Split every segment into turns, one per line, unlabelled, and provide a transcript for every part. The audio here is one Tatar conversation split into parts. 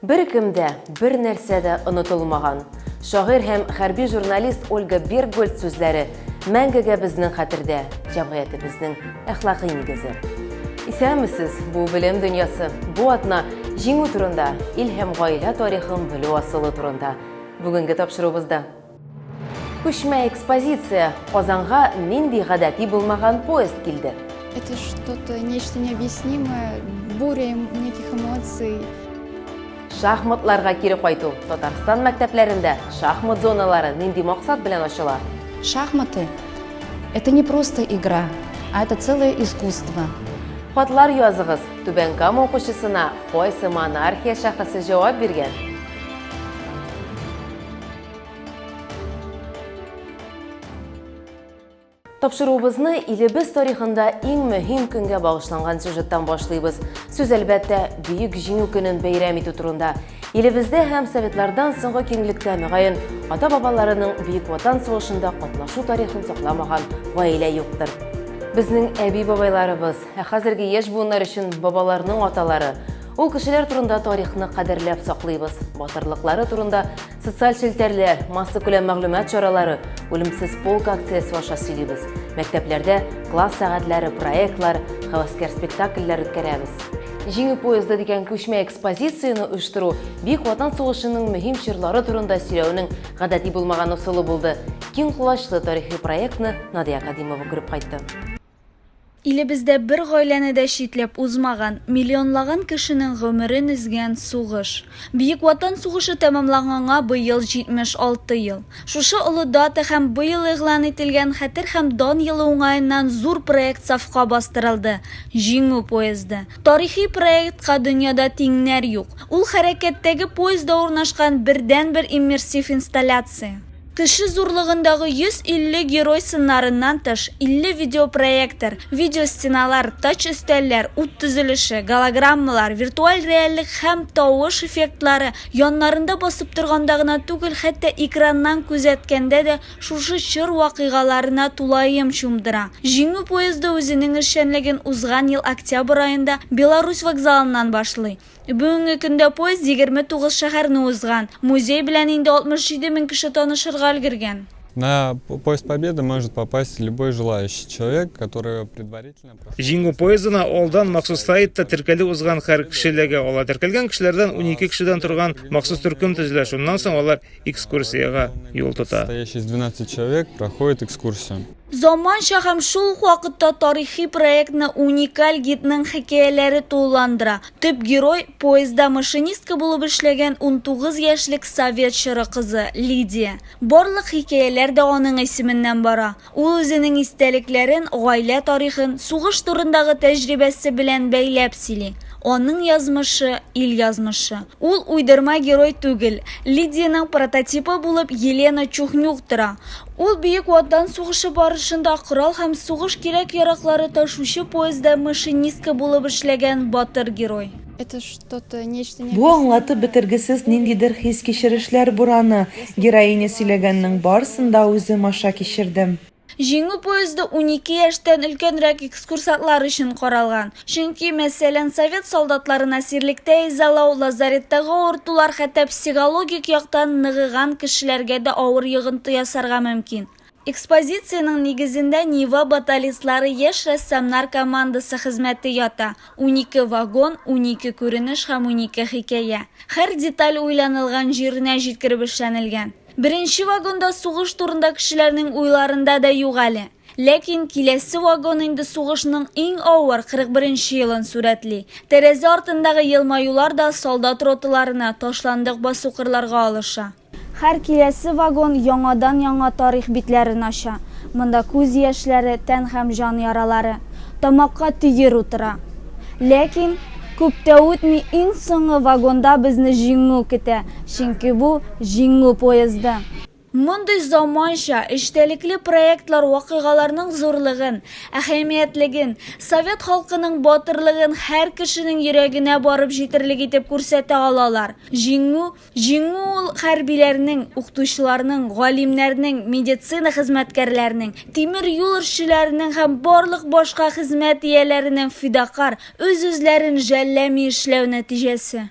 Беркем дә, бернәрсә дә онытылмаган. Шагыйрь һәм хәрби журналист Ольга Бергольц сүзләре мәңгегә безнең хәтердә, җәмгыятебезнең әхлакый нигезе. Исәнмесез, бу белем дөньясы, бу атна җиңү турында, ил һәм гаилә тарихын белү асылы турында бүгенге тапшыруыбызда. Күчмә экспозиция Казанга нинди гадәти булмаган поезд килде. Это что-то
нечто необъяснимое, буря неких эмоций.
Шахматларга кире кайту. Татарстан мәктәпләрендә шахмат зоналары нинди максат белән ачыла? Шахматы –
это не просто игра, а это целое искусство. Хатлар
языгыз. Түбән Кама укучысына кайсы монархия шәхесе җавап биргән? Тапшыруыбызны илебез тарихында иң мөһим көнгә багышланган сюжеттан башлыйбыз. Сүз әлбәттә Бөек Җиңү көнен бәйрәм итү турында. Илебездә һәм советлардан соңгы киңлектә мөгаен ата-бабаларының Бөек Ватан сугышында катнашу тарихын сакламаган гаилә юктыр. Безнең әби-бабайларыбыз, ә хәзерге яшь буыннар өчен бабаларның аталары Ул кешеләр турында тарихны кадерләп саклыйбыз. Батырлыклары турында социаль челтәрләр, массакүләм мәгълүмат чаралары, үлемсез полк акциясе аша сөйлибез. Мәктәпләрдә класс сәгатьләре, проектлар, хәвәскәр спектакльләр үткәрәбез. Җиңү поезды дигән күчмә экспозицияне оештыру Бөек Ватан сугышының мөһим чорлары турында сөйләүнең гадәти булмаган ысулы булды. Киң колачлы тарихи проектны Надия Кадимова күреп кайтты.
Илебездә бер гаиләне дә читләп узмаган, миллионлаган кешенең гомерен өзгән сугыш. Бөек Ватан сугышы тәмамланганга быел 76 ел. Шушы олы дата һәм быел игълан ителгән Хәтер һәм дан елы уңаеннан зур проект сафка бастырылды, Җиңү поезды. Тарихи проектка дөньяда тиңнәр юк. Ул хәрәкәттәге поездда урнашкан бердәнбер иммерсив инсталляция. Кеше зурлыгындагы 150 герой сыннарыннан тыш, 50 видеопроектор, видеостеналар, тач-өстәлләр, ут төзелеше, голограммалар, виртуаль реальлек һәм тавыш эффектлары, яннарында басып торганда гына түгел, хәтта экраннан күзәткәндә дә шушы чор вакыйгаларына тулаем чумдыра. Җиңү поезды үзенең эшчәнлеген узган ел октябрь аенда Беларусь вокзалыннан башлый. Бүгенге көндә поезд 29 шәһәрне узган. Музей белән инде 67 мең кеше танышырга өлгергән. На Поезд
Победы может попасть любой желающий человек, который предварительно прошел... Җиңү поездына
алдан махсус сайтта теркәлү узган һәр кеше эләгә ала. Теркәлгән кешеләрдән унике кешедән торган махсус төркем төзелә, шуннан соң алар экскурсиягә юл тота. Состоящий из 12
человек проходит экскурсию. Заманча һәм
шул ук вакытта тарихи проектны уникаль гидның хикәяләре тулыландыра. Төп герой, поездда машинистка булып эшләгән унтугыз яшьлек совет чоры кызы, Лидия. Барлык хикәяләр дә аның исеменнән бара. Ул үзенең истәлекләрен, гаилә тарихын, сугыш турындагы тәҗрибәсе белән бәйләп сөйли. Аның язмышы, ил язмышы. Ул уйдырма герой түгел. Лидиянең прототипы булып Елена Чухнюк тора. Ул Бөек Ватан сугышы барышында корал һәм сугыш кирәк-яраклары ташучы поездда машинистка булып эшләгән батыр герой.
Бу аңлатып
бетергесез ниндидер хис-кичерешләр бураны. Героиня сөйләгәннең барсын да үзем аша кичердем. Җиңү
поезды унике яшьтән өлкәнрәк экскурсантлар өчен каралган. Чөнки, мәсәлән, совет солдатларын әсирлектә изалау, лазареттагы авыртулар хәтта психологик яктан ныгыган кешеләргә дә авыр йогынты ясарга мөмкин. Экспозициянең нигезендә Нива баталистлары яшь рәссамнар командасы хезмәте ята, унике вагон, унике күренеш һәм унике хикәя. Һәр деталь уйланылган җиренә җиткереп эшләнелгән. Беренче вагонда сугыш турында кешеләрнең уйларында да юк әле. Ләкин киләсе вагон инде сугышның иң авыр 41 нче елын сурәтли. Тәрәзә артындагы елмаюлар да солдат роталарына, ташландык басу-кырларга алыша. Һәр киләсе вагон яңадан-яңа тарих битләрен ача. Монда күз яшьләре, тән һәм җан яралары. Тамакка төер утыра. Ләкин, күп тә үтми, иң соңгы вагонда безне Җиңү көтә, чөнки бу, Җиңү поезды. Мондый заманча, эчтәлекле проектлар вакыйгаларның зурлыгын, әһәмиятлеген, совет халкының батырлыгын һәр кешенең йөрәгенә барып җитерлек итеп күрсәтә алалар. Җиңү, җиңү ул хәрбиләрнең, укытучыларның, галимнәрнең, медицина хезмәткәрләренең, тимер юл эшчеләренең һәм барлык башка хезмәт ияләренең фидакарь, үз-үзләрен жәлләми эшләү нәтиҗәсе.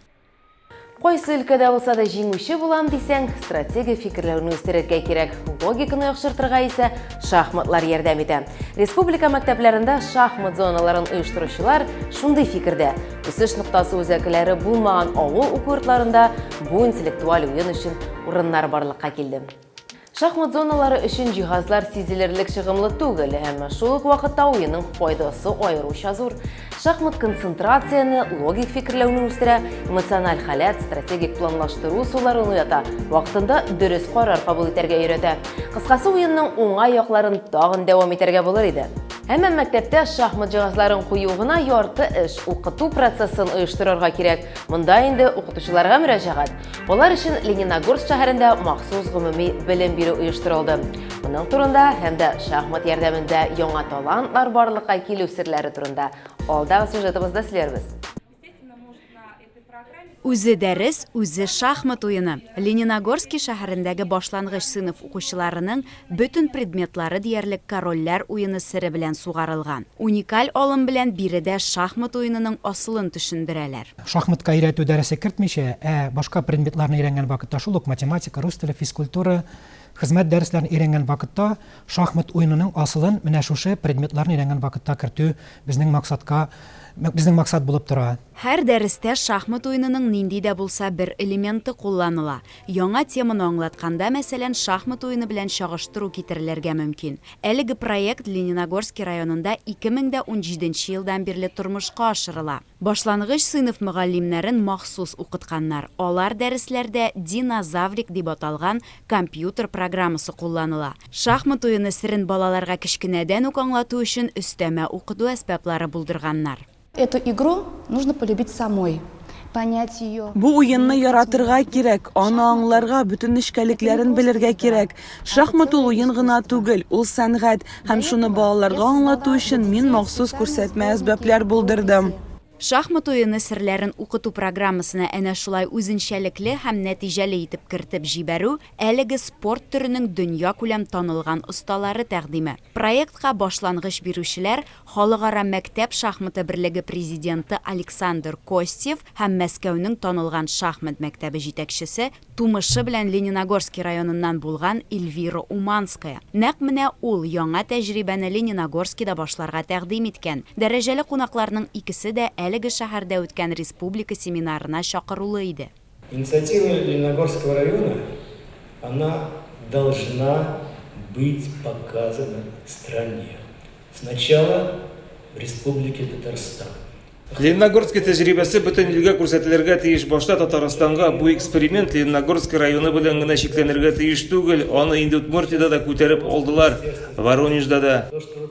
Кайсы
өлкәдә булса да җиңүче булам дисәң, стратегия фикерләүне үстерергә кирәк. Логиканы яхшыртырга исә шахматлар ярдәм итә. Республика мәктәпләрендә шахмат зоналарын оештыручылар шундый фикердә, үсеш ноктасы үзәкләре булмаган авыл уку йортларында бу интеллектуаль уен өчен урыннар барлыкка килде. Шахмат зоналары өчен җиһазлар сизелерлек чыгымлы түгел, әмма шул ук вакытта уенның файдасы аеруча зур. Шахмат концентрацияне, логик фикерләүне үстерә, эмоциональ халәт, стратегик планлаштыру усулларын уята, вакытында дөрес карар кабул итәргә өйрәтә. Кыскасы, уенның уңай якларын тагын дәвам итәргә булыр иде. Әмма мәктәптә шахмат җиһазларын кую гына ярты эш, укыту процессын оештырырга кирәк. Монда инде укытучыларга мөрәҗәгать, Алар өчен Лениногорск шәһәрендә махсус гомуми белем бирү оештырылды. Моның турында һәм дә шахмат ярдәмендә яңа талантлар барлыкка килү серләре турында алдагы сюжетыбызда сөйләрбез.
Үзе дәрес, үзе шахмат уены. Лениногорски шәһәрендәге башлангыч сыйныф укучыларының Бөтен предметлары диярлек корольләр уены сере белән сугарылган. Уникаль алым белән биредә шахмат уенының асылын төшендерәләр. Шахматка өйрәтү
дәресе кертмичә, ә башка предметларны өйрәнгән вакытта, шул ук математика, рус теле, физкультура, хезмәт дәресләрен өйрәнгән вакытта, шахмат уенының асылын менә шушы предметларны өйрәнгән вакытта кертү безнең максатка, безнең максат булып тора. Һәр дәрестә
шахмат уенының нинди дә булса бер элементы кулланыла, Яңа теманы аңлатканда, мәсәлән, шахмат уены белән чагыштыру китерелергә мөмкин. Әлеге проект Лениногорски районында 2017 нче елдан бирле тормышка ашырыла. Башлангыч сыйныф мөгаллимнәрен махсус укытканнар, алар дәресләрдә Динозаврик дип аталган компьютер программасы кулланыла. Шахмат уены серен балаларга кечкенәдән үк аңлату өчен өстәмә укыту әсбаплары булдырганнар. Эту игру
нужно полюбить самой, понять ее. Бу уенны яратырга
кирәк, аны аңларга, бөтен нечкәлекләрен белергә кирәк. Шахмат ул уен гына түгел, ул сәнгать, һәм шуны балаларга аңлату өчен мин махсус күрсәтмә әсбаплар булдырдым. Шахмат
уены серләрен укыту программасына әнә шулай үзенчәлекле һәм нәтиҗәле итеп кертеп җибәрү, әлеге спорт төренең дөньякүләм танылган осталары тәкъдиме. Проектка башлангыч бирүчеләр, Халыкара мәктәп шахматы берлеге президенты Александр Костев һәм Мәскәүнең танылган шахмат мәктәбе җитәкчесе, тумышы белән Лениногорски районыннан булган Эльвира Уманская. Нәкъ менә ул яңа тәҗрибәне Лениногорскида башларга тәкъдим иткән. Дәрәҗәле кунакларның икесе дә әлеге шәһәрдә үткән республика семинарына чакырулы иде. Инициатива
Лениногорского района, она должна быть показана стране. Сначала в Республике Татарстан. Лениногорский
тәҗрибәсе бөтен илгә күрсәтелергә тиеш. Башта Татарстанга бу эксперимент Лениногорский районы белән генә чикләнергә тиеш түгел. Аны инде Удмуртиядә дә күтәреп алдылар, Воронежда да.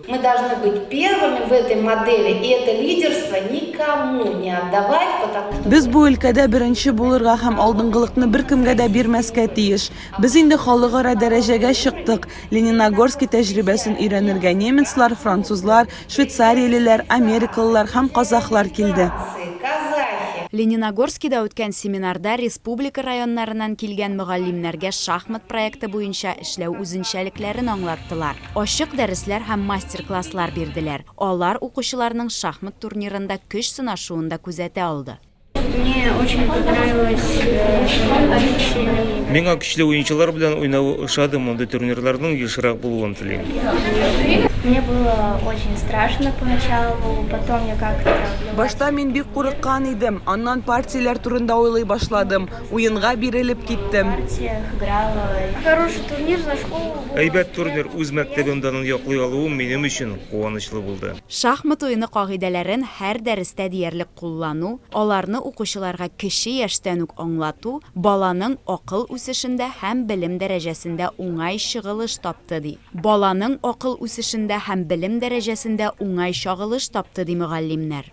Мы должны быть
первыми в этой модели и это лидерство никому не отдавать, потому что. Без бу өлкәдә беренче
булырга һәм алдынгылыкны беркемгә дә бирмәскә тиеш. Без инде халыкара дәрәҗәгә чыктык. Лениногорски тәҗрибәсен өйрәнергә немецлар, французлар, швейцариялеләр, америкалылар һәм казахлар килде. Лениногорскида
үткән семинарда республика районнарыннан килгән мөгаллимнәргә шахмат проекты буенча эшләү үзенчәлекләрен аңлаттылар. Ачык дәресләр һәм мастер-класслар бирделәр. Алар укучыларның шахмат турнирында көч сынашуын да күзәтә алды. Мне очень
понравилось шахмат.
Миңа көчле уенчылар белән уйнавы ошады, мондый турнирларның ешрак булуын телим. Мне было очень страшно
поначалу, потом я как-то влилась. Башта мин бик
курыккан идем, аннан партияләр турында уйлый башладым. Уенга бирелеп киттем.
Хороший турнир за школу. Әйбәт турнир, үз
мәктәбем данын яклый алуым минем өчен куанычлы булды. Шахмат уены
кагыйдәләрен һәр дәрестә диярлек куллану, аларны укучыларга кече яшьтән үк аңлату баланың акыл үсешендә һәм белем дәрәҗәсендә уңай чыгылыш тапты, ди. Баланың акыл үсешендә һәм белем дәрәҗәсендә уңай чагылыш тапты, ди мөгаллимнәр.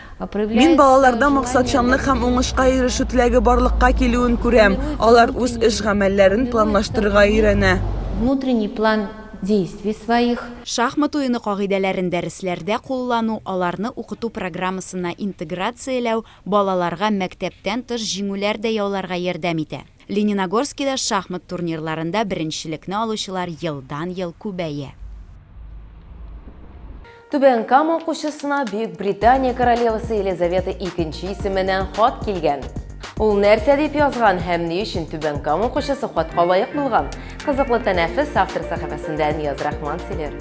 Мин
балаларда максатчанлык һәм уңышка ирешү теләге барлыкка килүен күрәм, алар үз
эш-гамәлләрен
планлаштырырга өйрәнә. Внутренний план
действий своих. Шахмат уены
кагыйдәләрен дәресләрдә куллану, аларны укыту программасына интеграцияләү балаларга мәктәптән тыш җиңүләр дә яуларга ярдәм итә. Лениногорскида шахмат турнирларында беренчелекне алучылар елдан-ел күбәя.
Түбән Кама укучысына Бөекбритания королевасы Елизавета икенче исеменнән хат килгән. Ул нәрсә дип язган һәм ни өчен Түбән Кама укучысы хатка лаек булган? Кызыклы тәнәфес автор сәхифәсендә Нияз Рахман сөйләр.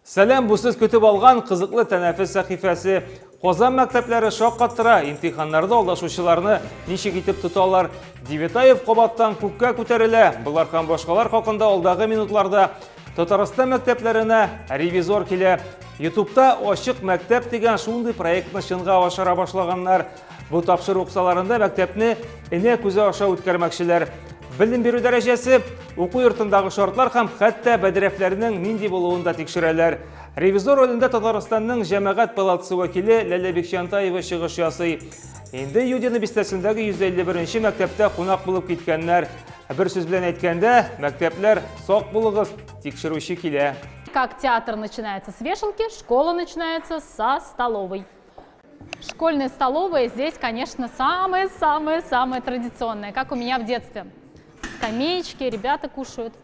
Сәлам, бу сез көтеп алган кызыклы тәнәфес сәхифәсе. Казан мәктәпләре шаккаттыра, имтиханнарда алдашучыларны ничек итеп тоталар? Девятаев кабаттан күккә күтәрелә. Болар һәм башкалар хакында алдагы минутларда Татарстан мәктәпләренә ревизор килә. Ютубта Ачык мәктәп дигән шундый проектны чынга ашыра башлаганнар. Бу тапшыру кысаларында мәктәпне энә күзе аша үткәрмәкчеләр. Белем бирү дәрәҗәсе, уку йортындагы шартлар һәм хәтта бәдрәфләрнең нинди булуын да тикшерәләр. Ревизор ролендә Татарстанның җәмәгать палатасы вәкиле Ләлә Бикчантаева чыгыш ясый. Инде Юдина бистәсендәге 151 мәктәптә кунак булып киткәннәр. Бер сүз белән әйткәндә, мәктәпләр сак булыгыз, тикшерүче килә. Как театр
начинается с вешалки, школа начинается со столовой. Школьная столовая здесь, конечно, самая-самая-самая традиционная, как у меня в детстве. Скамеечки, ребята кушают,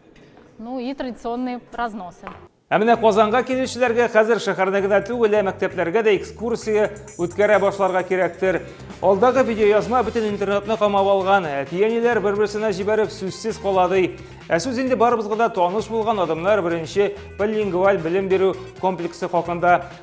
ну и традиционные разносы. Ә менә Казанга
килүчеләргә хәзер шәһәрдә генә түгел, ә мәктәпләргә дә экскурсия үткәрә башларга кирәктер. Алдагы видеоязма бөтен интернетны камап алган. Әти-әниләр бер-берсенә җибәреп сүзсез кала ди. Ә сүз инде барыбызга да таныш булган адамнар беренче билингваль белем бирү комплексы хакында.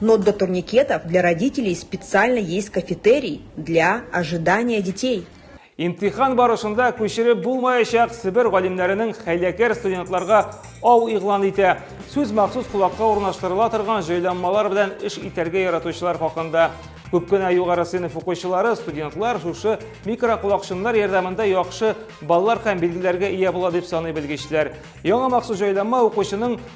Но для турникетов для родителей специально есть кафетерий для ожидания детей. Имтихан
барышында күчереп булмаячак Себер галимнәренең хәйләкәр студентларга ау игълан итә. Сүз махсус колакка урнаштырыла торган җайланмалар белән эш итәргә яратучылар хакында. Күп кенә югары сыйныф укучылары, студентлар шушы микроколакчыннар ярдәмендә яхшы баллар һәм билгеләргә ия була дип саный белгечләр. Яңа махсус җайланма укучының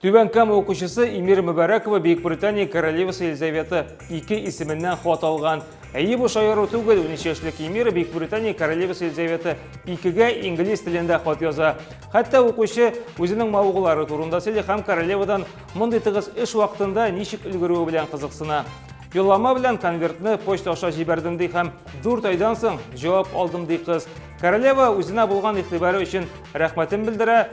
Түбән Кама
укучысы Эмир Мөбәрәкова Бөекбритания королевасы Елизавета II исеменнән хат алган. Әйе, бу шаяру түгел, 13 яшьлек Эмир Бөекбритания королевасы Елизавета II-гә инглиз телендә хат яза. Хәтта укучы үзенең мавыгулары турында сөйли һәм королевадан мондый тыгыз эш вакытында ничек өлгерүе белән кызыксына. Юллама белән конвертны почта аша җибәрдем ди һәм дүрт айдан соң җавап алдым ди кыз. Королева үзенә булган игътибары өчен рәхмәтен белдерә,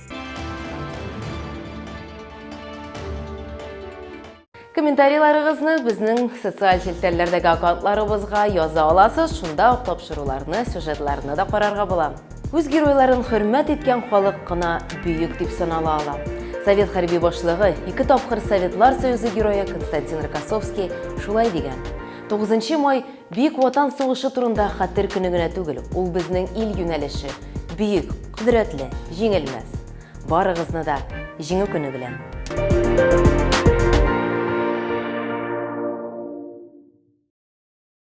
Комментарийларыгызны безнең социаль челтәрләрдәге аккаунтларыбызга яза аласыз, шунда ук тапшыруларны, сюжетларны да карарга була. Үз геройларын хөрмәт иткән халык кына бөек дип санала ала. Совет хәрби башлыгы, ике тапкыр Советлар Союзы герое Константин Рокоссовский шулай дигән. 9 май Бөек Ватан сугышы турында хәтер көне генә түгел, ул безнең ил юнәлеше, бөек, кодрәтле, җиңелмәс. Барыгызны да Җиңү көне белән!